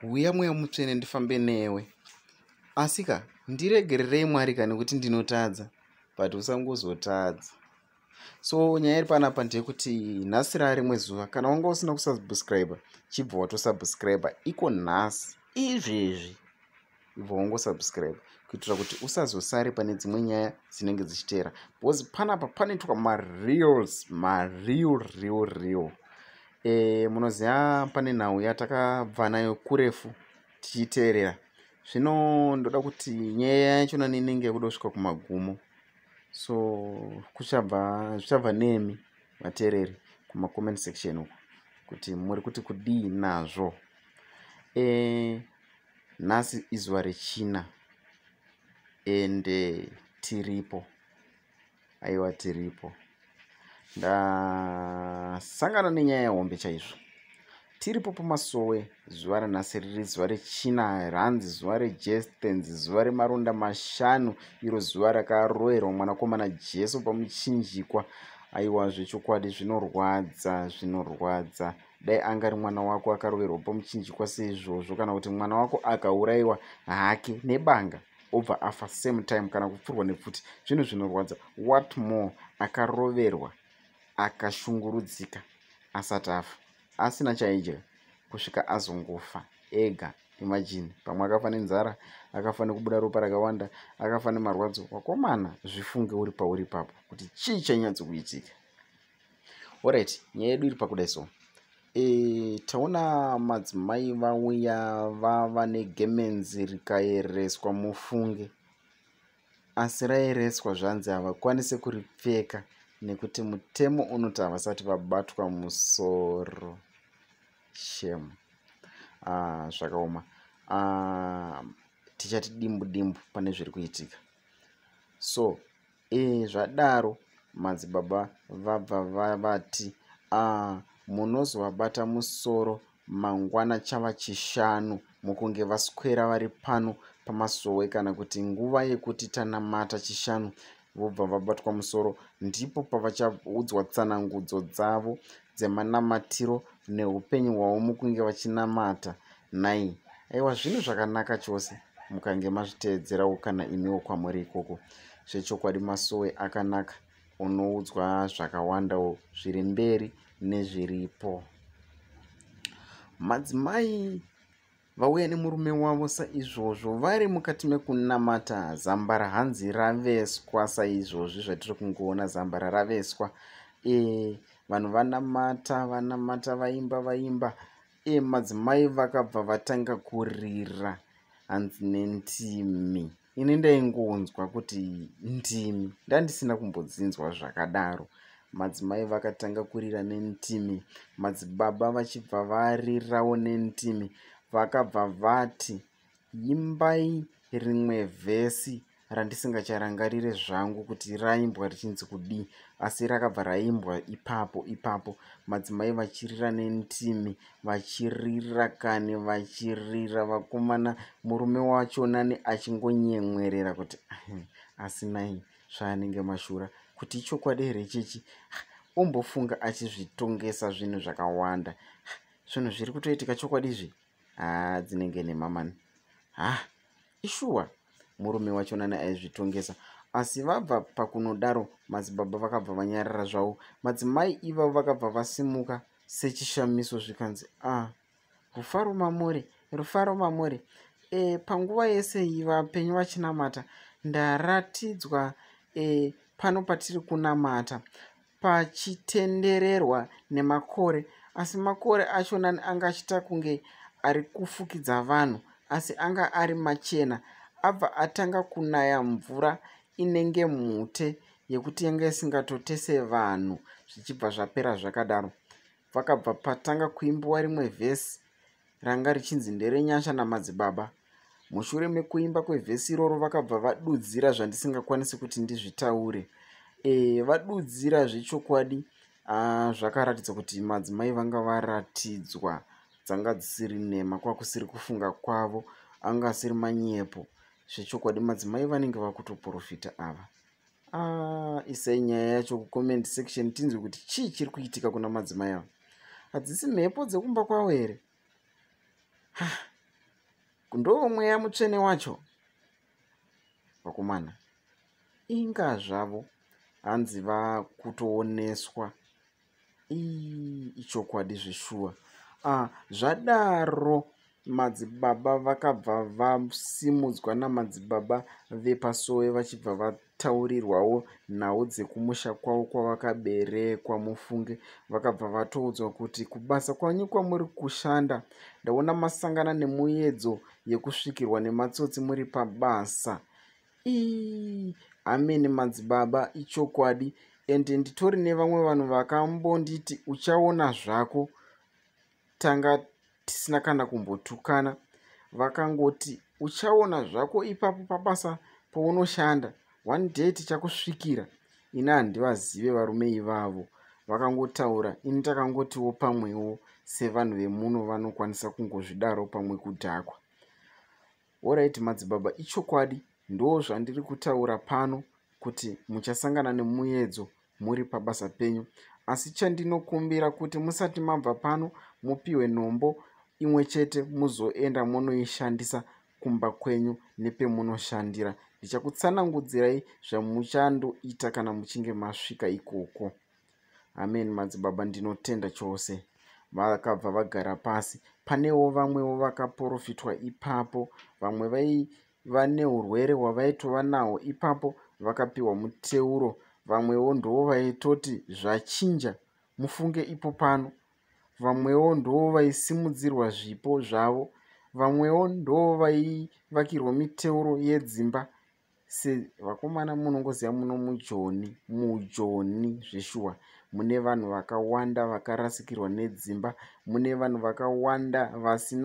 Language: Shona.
huya mweya mutsvene ndifambe newe asika ndiregererei mwari ka nekuti ndinotadza but usangozotadza so nyaya iri panapa ndeyekuti nhasi raa rimwe zuva kana wanga usina kusubscribe chibva watosubscribe iko nhasi izvezvi ibva wongosubscribe kuitira kuti usazosare pane dzimwe nyaya dzinenge dzichiteera because panapa panoitwa mareals mareal real real e, munoziva pane nhau yatakabva nayo kurefu tichiteerera zvino ndoda kuti nyaya yacho nani inenge yakuda kusvika kumagumo so kuchabva zvichabva nemi vateereri kumacomment section uko kuti muri kuti kudii nazvo e, nhasi izuva rechina ende eh, tiripo aiwa tiripo ndasangana nenyaya yehombe chaizvo tiripo pamasowe zuva ranhasi riri zuva rechina ranzi zuva rejestens zuva remaronda mashanu iro zuva rakaroerwa mwanakomana jesu pamuchinjikwa aiwa zvechokwadi zvinorwadza zvinorwadza dai angari mwana wako akaroverwa pamuchinjikwa seizvozvo kana kuti mwana wako akaurayiwa hake nebanga obva afa same time kana kupfurwa nepfuti zvinhu zvinorwadza what more akaroverwa akashungurudzika asati afa asina chaidya kusvika azongofa ega imagine pamwe akafa nenzara akafa nekubuda ropa rakawanda akafa nemarwadzo wakomana zvifunge uri pauri ipapo kuti chii chainyatsokuitika orit nyaya yedu iri pakuda so e, taona madzimai vauya vava negemenzi rikaereswa mufunge asi raereswa zvanzi havakwanise kuripfeka nekuti mutemo unoti havasati vabatwa musoro shem ah, zvakaoma ah, tichati dimbu dimbu pane zviri kuitika so Ee, zvadaro madzibaba vabva vavati, Aa, munozovabata musoro mangwana chava chishanu mukunge vaswera vari pano pamasowe kana kuti nguva yekuti tanamata chishanu vobva vabatwa musoro ndipo pavachaudzwa tsanangudzo dzavo dzemanamatiro neupenyu hwavo mukunge vachinamata nhai aiwa zvinhu zvakanaka chose mukange mazviteedzerawo kana imiwo kwamuri ikoko zvechokwadi masowe akanaka unoudzwa zvakawandawo zviri mberi nezviripo madzimai vauya nemurume wavo saizvozvo vari mukati mekunamata zambara hanzi raveswa saizvozvi zvatiri kungoona zambara raveswa e vanhu vanamata vanamata vaimba vaimba e madzimai vakabva vatanga kurira hanzi nentimi ini ndaingonzwa kuti ndimi ndandisina kumbodzinzwa zvakadaro madzimai vakatanga kurira nentimi madzibaba vachibva varirawo nentimi vakabva vati imbai rimwe vhesi randisingacharangarire zvangu kuti raimbwa richinzi kudii asi rakabva raimbwa ipapo ipapo madzimai vachirira nentimi vachirira kani vachirira vakomana murume wacho nani achingonyemwerera kuti asinai zvaanenge mashura kuti ichokwadi here ichichi ombofunga achizvitongesa zvinhu zvakawanda zvinhu zviri kutoitika chokwadi izvi haa dzinenge nemamani ha ishuwa murume wacho nani aizvitongesa asi vabva pakunodaro madzibaba vakabva vanyarara zvavo madzimai ivavo vakabva vasimuka sechishamiso zvikanzi a ah, rufaro mamuri rufaro mamuri e, panguva yese iyi vapenyu vachinamata ndaratidzwa e, pano patiri kunamata pachitendererwa nemakore asi makore acho nani anga achita kunge ari kufukidza vanhu asi anga ari machena abva atanga kunaya mvura inenge mhute yekuti yanga isingatotese vanhu zvichibva zvapera zvakadaro pakabva patanga kuimbiwa rimwe vhesi ranga richinzi nderenyasha namadzibaba mushure mekuimba kwevhesi iroro vakabva vadudzira zvandisingakwanisi kuti ndizvitaure e, vadudzira zvechokwadi ah, zvakaratidza kuti madzimai vanga varatidzwa dzanga dzisiri nhema kwakusiri kufunga kwavo anga asiri manyepo zvechokwadi madzimai vanenge vakutoprofita ava ah, isai nyaya yacho kucomment section tinzwe kuti chii chiri kuitika kuna madzimai ava hadzisi mhepo dzekumba kwavo here ndovo mweya mutsvene wacho vakomana inga zvavo hanzi vakutooneswa ichokwadi zveshuwa ah, zvadaro madzibaba vakabva vasimudzwa namadzibaba vepasowe vachibva vataurirwawo nhau dzekumusha kwavo kwavakaberekwa mufunge vakabva vatoudzwa kuti kubasa kwanyu kwamuri kushanda ndaona masangana nemuyedzo yekusvikirwa nematsotsi muri pabasa ii amene madzibaba ichokwadi and nditori nevamwe vanhu vakambonditi uchaona zvako tanga tisina kana kumbotukana vakangoti uchaona zvako ipapo pabasa pounoshanda one day tichakusvikira ini handivazive varume ivavo vakangotaura ini takangotiwo pamwewo sevanhu vemuno vanokwanisa kungozvidaro pamwe kudhakwa Horaiti madzibaba ichokwadi ndoo zvandiri kutaura pano kuti muchasangana nemuyedzo muri pabasa penyu asi chandinokumbira kuti musati mabva pano mupiwe nhombo imwe chete muzoenda monoishandisa kumba kwenyu nepemunoshandira ndichakutsanangudzirai zvamuchandoita kana muchinge masvika ikoko amen madzibaba ndinotenda chose vakabva vagara pasi panewo vamwewo vakaporofitwa ipapo vamwe vaiva neurwere hwavaitova nawo ipapo vakapiwa muteuro vamwewo ndoo vaitoti zvachinja mufunge ipo pano vamwewo ndoo vaisimudzirwa zvipo zvavo vamwewo ndoo vaivakirwa miteuro yedzimba se vakomana munongoziva muno mujoni mujoni zveshuwa mune vanhu vakawanda vakarasikirwa nedzimba mune vanhu vakawanda vasina